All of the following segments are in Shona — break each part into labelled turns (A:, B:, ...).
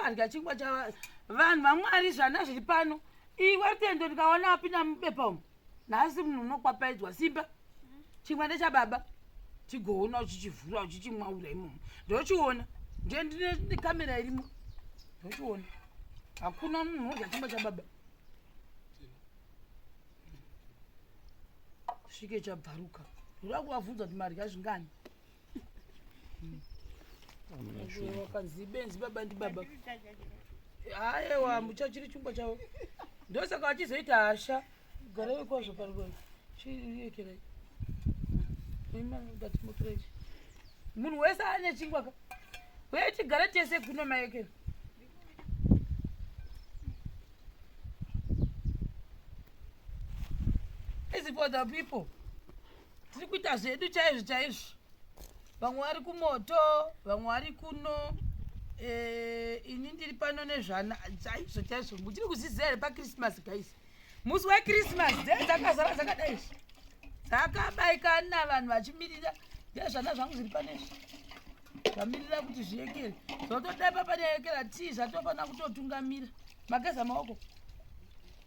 A: adya chingwa chava vanhu vamwari zvana zviri pano iwe rutendo ndikaona apinda mubepa umu nhasi munhu unokwapaidzwa simba chingwa ndechababa chigoona uchichivhura uchichimwaura imomo ndochiona ndiye ndine nekamera irimo ndochiona hakuna munhu odya chingwa chababa svike chabvaruka ndoda kuvabvunza kuti madya zvingani wakanzi benzi baba ndibaba aewa mucha chiri chumba chavo ndosaka vachizoita hasha garai kwazvo pariwa chirekerai imadatimotorechi munhu wese ane chingwa ka uye tigare tese kuno maekera is for the people tiri kuita zvedu chaizvo chaizvo vamwe vari kumoto vamwe vari kuno eh, ini ndiri pano nezvana chaizvo chaizvo muchiri kuzviziva here pakrismas guys musi wekrismas dee dzakazara dzakadai izvi dzakabaikana vanhu vachimirira ndezvana zvangu zviri pano izvi zvamirira kuti zviyekere zvotodepa panyayekera tii zvatofanira kutotungamira mageza maoko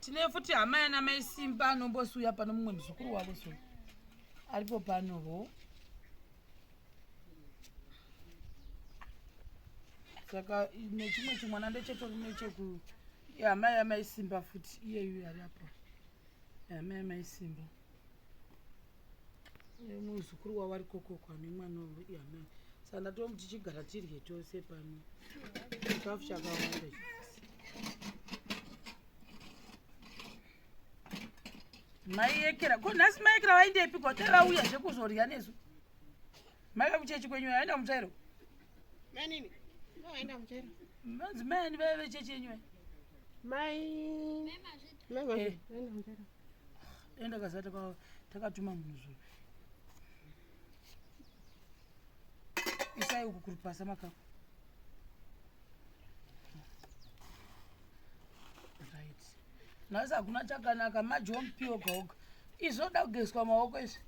A: tine futi hama yana mai simba anombosiuya pano mumwe muzukuru wavo so aripo pano ho saka nechimwe chimwana ndechetori necheku hama yamai simba futi iyeyu yari apo hama yamai simba muzukuru wavo ari kokoko ane mwana wavo iye amai saka ndatova tichigara tirye tose pano chikafu chakawanda maiyekera ko nhasi maiyekera vaindepi ko te vauya zvekuzorya nesu maika kuchechi kwenyu aenda mutsvairo manini
B: aenda mutsvairo madzimai ani
A: vaive chechi yenyu
B: mai mai enda kaza
A: takatuma munhu zvo isai uku kuri pasa makako right nhasi hakuna chakanaka majompi oga oga izvoda kugezwa maoko izvi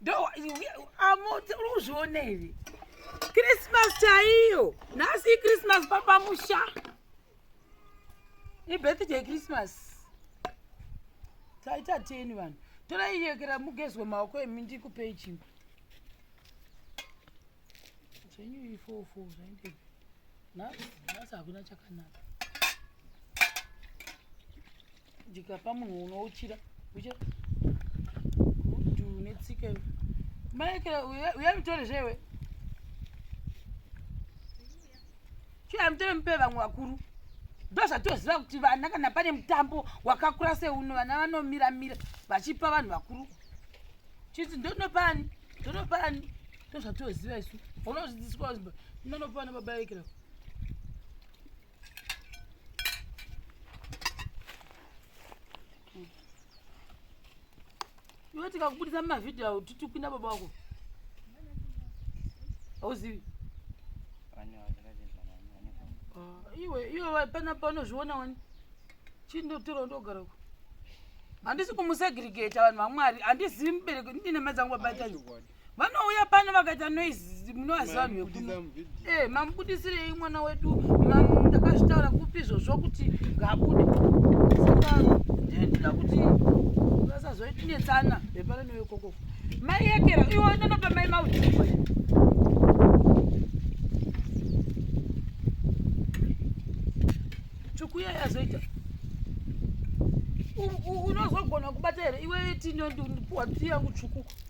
A: ndoamoti uri kuzviona here krismas chaiyo nhasi ikrismas papamusha ibirthday christmas taita teni vanhu torai yekera mugezwe maoko emi ndikupei chimba zvenyu ifofo zvainde nhasi hakuna chakanaka ndikapa munhu unouchira ucha kuti une tsika iwe maekera uya mutore zvewe chiuya mutore mupe vamwe vakuru ndozvatoziva kuti vana kana pane mutambo wakakura seuno vana vanomira mira vachipa vanhu vakuru chiti ndonopa ani ndonopa ani ndozvatoziva isu unozvidziswa ndonopa ana baba ekera iwe tikakubudisa mumavhidhiyo awo titi kupinda baba wako hauzivi ah, iwe iwe pana panozviona wani chii ndotora ndogara uko handisi kumusegregeta vanhu vamwari handizivi mubereki ndine madzangu babaita vanouya pano vakaita noise munovaziva vanhu vekuno eh mamubudisirei mwana wedu ndakazvitaura kupi izvozvo kuti ngabude saka ndinoda kuti vasazoitinetsana vepano nevekoko mai yekera iwo ndanopa mai maudiko tsvuku iya yazoita unozogona kubata here iwe tinopuwa tiyangu tsvuku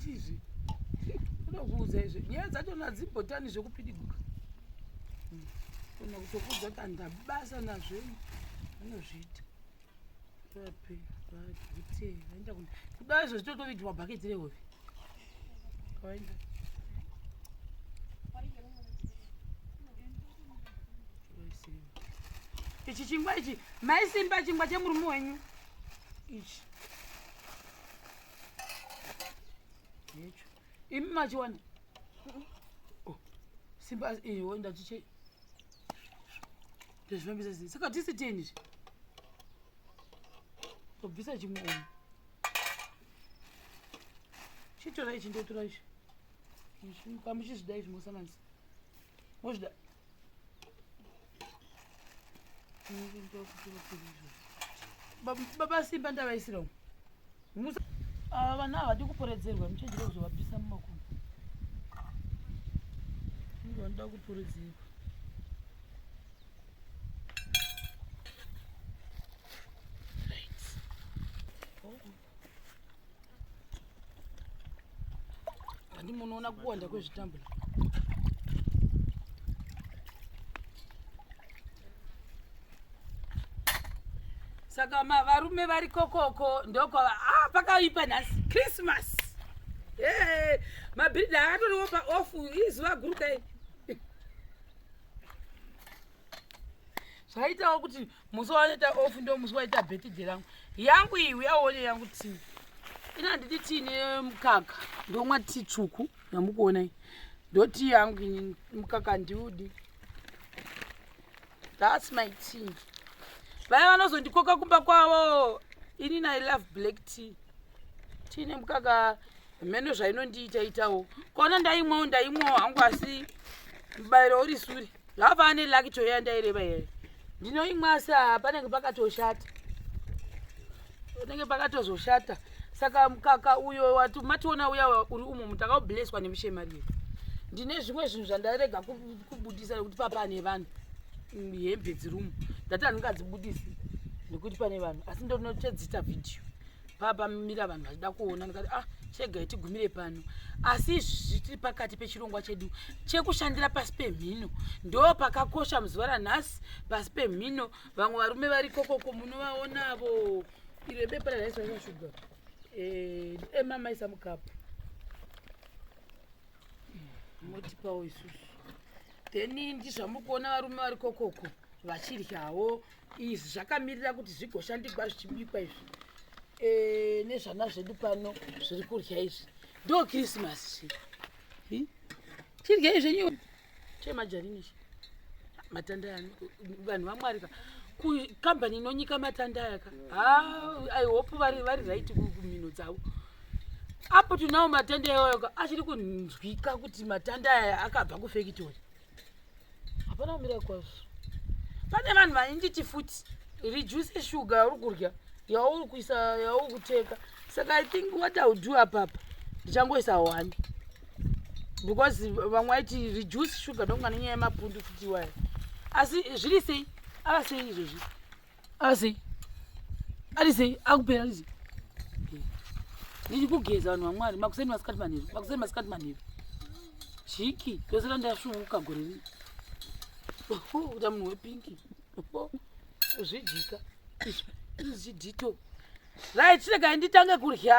A: chizvi unokuudza izvo nyaya dzacho nadzibhotani zvekupidiguka kana kutokuudza kuti andabasa nazvei anozviita vape vagute vaenda ku kudai izvo zvitotovitirwa bhaketi rehove kavaenda ichi chingwa ichi maisimba chingwa chemurume wenyu ichi hecho imi machiwana oh, simba iwe ndatiche ndozvifambisa sei saka tisi teni izvi tobvisa chimwe umu chitora ichi ndotora ichi kamuchizvida izvi mosanganisa mozvida baba simba ndavaisirawo ava vana havadi kuporedzerwa muchenjere kuzovapisa mumakumbo ndo vanoda kuporedzerwa Ndi munoona kuwanda kwezvitambo. Saka varume vari kokoko ndoko ah pakaipa nhasi Christmas. Hey, mabhiridha akatoriwo paofu izuva guru kai. zvaitawo kuti musi wavanoita off ndo musi waita birthday rangu yangu iyi uyaone yangu tii ina nditi tii nemukaka ndomwa tii tsvuku yamukuona iyi ndo tii yangu ini mukaka ndiudi thats my tea vaya vanozondikoka kumba kwavo ini nai love black tea tii nemukaka mheno zvainondiita itawo kona ndaimwawo ndaimwawo hangu asi mubayiro uri suri Lava ane lucky to yanda ere baye. Ndino imwasa panenge pakatoshata. Panenge pakatozoshata. Saka mkaka uyo watu mationa uya uri umo mutaka blesswa nemushema riye. Ndine zvimwe zvinhu zvandarega kubudisa kuti papa ane vanhu. Hembe dzirumo. Ndati andingadzibudisi nekuti pane vanhu asi ndonotedzita video. papamira vanhu vachida kuona ndikati ah chegai tigumire pano asi izvi zvitiri pakati pechirongwa chedu chekushandira pasi pemhino ndo pakakosha muzuva ranhasi pasi pemhino vamwe varume vari kokoko munovaonavo iro bepa raraisvaisashuga eh, emamaisa mukapu motipawo isusu then ndizvamuri kuona varume vari kokoko vachidyawo izvi zvakamirira kuti zvigoshandikwa zvichibikwa izvi e, nezvana zvedu pano zviri kurya izvi ndo krismas chi chiryei zvenyu chemajarini chi matanda yani vanhu vamwarika kukambani inonyika matanda yaka ha i hope vari vari right kumhino dzavo apo tinawo matanda iwayoka achiri kunzwika kuti matanda aya akabva kufekitori hapana kumira kwazvo pane vanhu vaninditi futi reduce sugar yauri kurya yauri kuisa yauri kuteka saka i think what ill do apapa ndichangoisa one because vamwe vaiti reduce sugar ndonga nenyaya yemapundu futi iwayo asi zviri sei ava sei izvozvi asi arisei akupera arise ndichikugeza vanhu vamwari makuseni masikati manheru makuseni masikati manheru chiki tose randasvuvuka gore rii kuta munhu wepinki uzvidika izvidito right chiregai nditange kurya